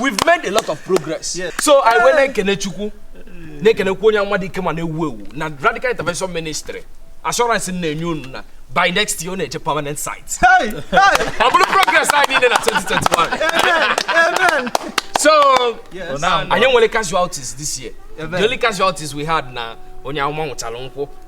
we've made a lot of progress yes. so anyị wee na-ekene chukwu na-ekenekwu onye amụma dị ike ma na-ewu ewu na radical intervention ministry assurance na-enye unu na by next year ọ na-eje permanent site ọ bụrụ progress anyị niile na 2021 so anyị nwere casualties this year the only casualties we had na onye amụma nwụchara nkwụ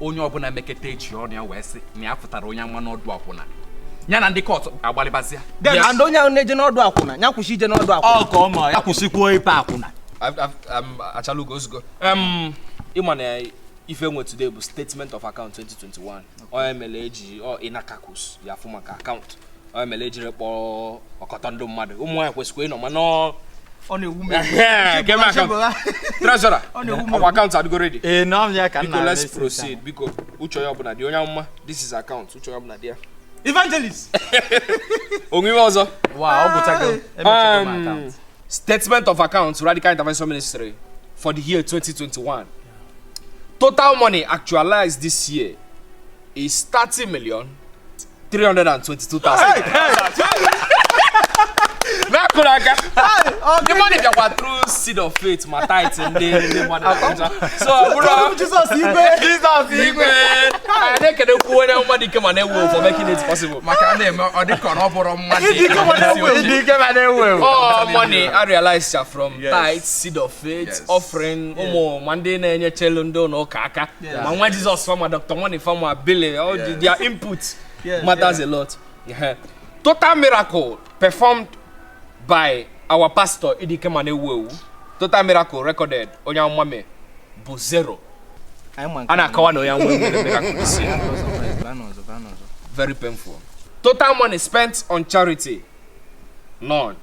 onye ọbụla meketa echi onye ahụ wee sị na ya fụtara onye amụma n'ọdụ akwụna ya na ndị court agbalịbazịa and onye ahụ na-eje n'ọdụ akwụna ya kwụsị ije n'ọdụ akwụna ọ ka ọ ma ya kwụsịkwuo ipe akwụna achalugo ozugbo ịma na ife e nwe today bụ statement of account 2021 ọ nya mere eji ịnakakus ya afụ maka account ọ ya mere e jiri kpọọ ọkọtọ ndị mmadụ ụmụ nwaanyị kwesịkwa ịnọ mana ọ ọ na-ewu m treasurer ọkwa account adịgo ready ee na ọmịa ka biko let's proceed biko uche onye ọbụla dị onye amụma this is account uche onye ọbụla dị ya evangelist o nwe ihe ọzọ um, statement of account radical intervention ministry for the year 2021 total money actualized this year is 30 million 322,000 na-akụrụ aka the money bịakwa through seed of faith ma tithe ndị ndị mmadụ na-aja so ọ bụrụ Jizọs igwe Jizọs igwe anyị na-ekenekwu onye amụma dị ike ma na-ewu for making it possible maka a na-eme ọ dịka ọ bụrụ mmadụ Ịdị ike ma na-ewu ewu. Ịdị ike ma na-ewu ewu. all money I realize ya from Yes. tithe seed of faith Yes. offering ụmụ ma ndị na-enyechelu ndị ụnọ ụka aka Yes. Ma nwa Jizọs fa, ma Dr. Money fa, ma Billy, all the, Yes. their input Yes, matters a lot. Yeah. Total miracle performed by our pastor Ịdị ike ma na-ewu ewu. Total miracle recorded onye amụma mee bụ zero. Anyị ma nke A na-akọwa na onye amụma emerọ miracle this year. Bịa n'ọzọ, bịa n'ọzọ, bịa n'ọzọ. Very painful. Total money spent on charity none.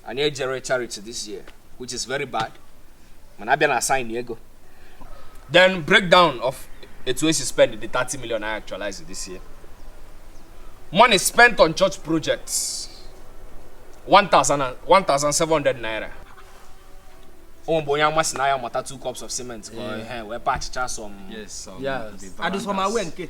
Anyị ejerọ charity this year which is very bad. mana a bịa na sign ego then breakdown of etu esi spend the 30 million I actualize this year money spent on church projects 1700 naira ọ mgbe onye amụma sị na ya mata two cups of cement ka ọ- ehe, wee patchịchaa some Yes, some Yes. the Adụsọmawe nke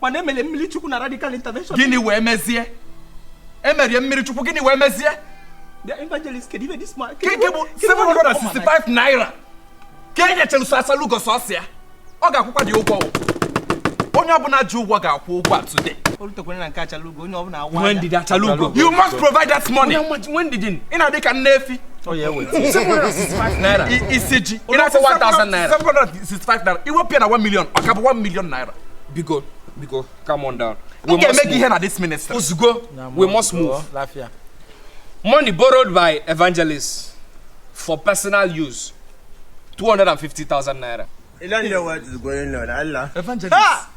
mana emere mmiri chukwu na radical intervention gịnị wee mezie emerie mmiri chukwu gịnị wee mezie the evangelist kedu ife this man nke nke bụ 765 naira ka e nyechara sọ Achalugo sọsọ ya ọ ga-akwụkwa dị ya ụgwọ onye ọbụla ji ụgwọ ga-akwụ ụgwọ a today olutekwere na nke achalu onye ọbụla awa nwee ndidi achalugo you must provide that money nwee ndidi ị na-adị ka nne efi naira isi ji ị na-asị 1000 naira 765 naira i wepụ ya na 1 million ọ ka bụ 1 million naira biko biko come on down we must make ihe na this ministry ozugbo we must move money borrowed by evangelist for personal use 250,000 naira You don't know what is going on, Allah. Evangelist. Ah!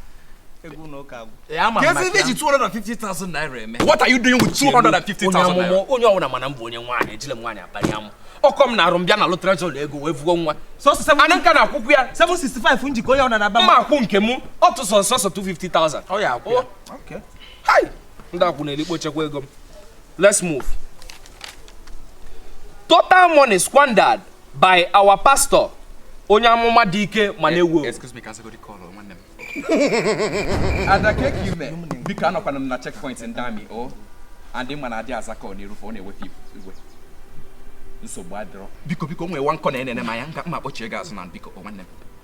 Kezi ihe i ji 250,000 naira eme. What are you doing with 250,000 naira? Onye ọwụna ma na m bụ onye nwaanyị ejile m nwaanyị akpari amụ. Ọ kọọ m n'arụ m bịa nalụ treasurer ego wee vuo nwa. Ana nka na-akwụkwụ ya. 765 m ji ka onye ọna na-aba m. Mma akwụ nke m ọ tụsọ sọsọ 250,000. Oya kwụọ ya. Oh. Hai! Ndị akwụ na-elikpo chekwa ego m. Let's move. Total money squandered by our pastor onye amụma dị ike ma eh, na-ewu excuse me ka m zagodi call nwanne m ada ka eke ime biko anọkwanụ m na checkpoint ndị army o oh. and ị ma na adị aza call n'iru fa ọ na-ewe fa iwe nsogbu adịrọ biko biko nwee nwa nke na-enene m anya nga mma kpọchie gị azụ na biko oh, nwanne m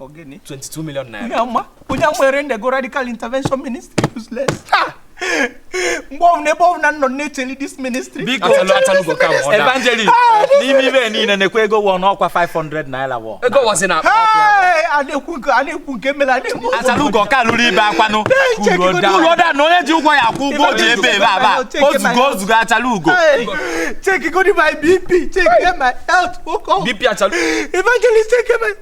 Ọ gịnị. 22 million naira. Onye ama, onye amụma erenderịgo radical intervention ministry useless. Ha! Mgbe ọbụla ebe ọbụla nọ na-echeli this ministry. Biko, Achalu achalugo come order. Evangelist, n'ime ive niile a na-ekwu ego wọ n'ọkwa 500 naira wọ. Ego wọzi na akpa ọkụ ya. Hey! A na-ekwu nke a na-ekwu nke mere a na-ekwu. Achalugo ka lụrụ ibe akwanụ. Ugo da. Ugo da na onye ji ụgwọ ya akwụ ụgwọ o ji ebe ebe aba. Ozugo ozugo achalugo. Hey! Checkgodu my BP, check my health. Oke ọgwụ. BP achalu. Evangelist, check my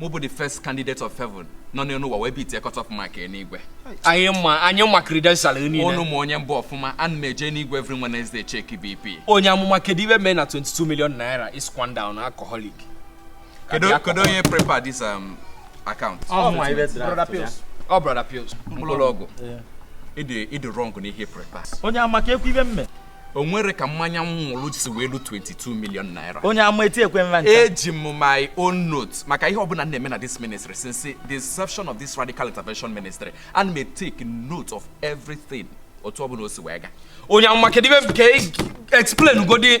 mụ bụ the first candidate of heaven nọ n'elu ụwa wee beatie cut off mark n'igwe anyị ma anyị ma credential niile ụnụ ma onye m bụ ọfụma ana m eje n'igwe every Wednesday check BP onye amụma kedu ive mee na 22 million naira is squandered on alcoholic kedu kedu onye prepare this um, account ọ mụ ibe brother pills ọ brother pills mkpụrụ ọgwụ ị dị wrong n'ihe ị prepare onye amaka ekwu ive m mee o nwere ka mmanya m ṅụrụ si wee ru 22 million naira onye ama etiekwe m va ncha eji m my own note maka ihe ọbụla m na-eme na this ministry since the inception of this radical intervention ministry ana m e-take note of everything otu ọbụla o si wee ga onye amụma kedu ive ka e- explain godi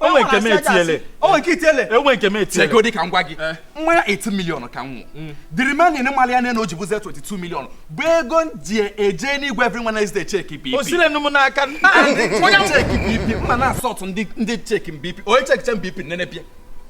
o nwere nke m etiele o nwere nke i tiele o nwe nke m etiele chegodi ka m gwa gị mmanya 18 million ka m ṅụ the remaining mali ya n'enu o ji bụzie 22 million bụ ego m ji eje n'igwe every Wednesday cheki bp o silenụ m n'aka onye cheki bp mma na-asọtụ ndị ndị cheki bp onye cheki check bp nene bịa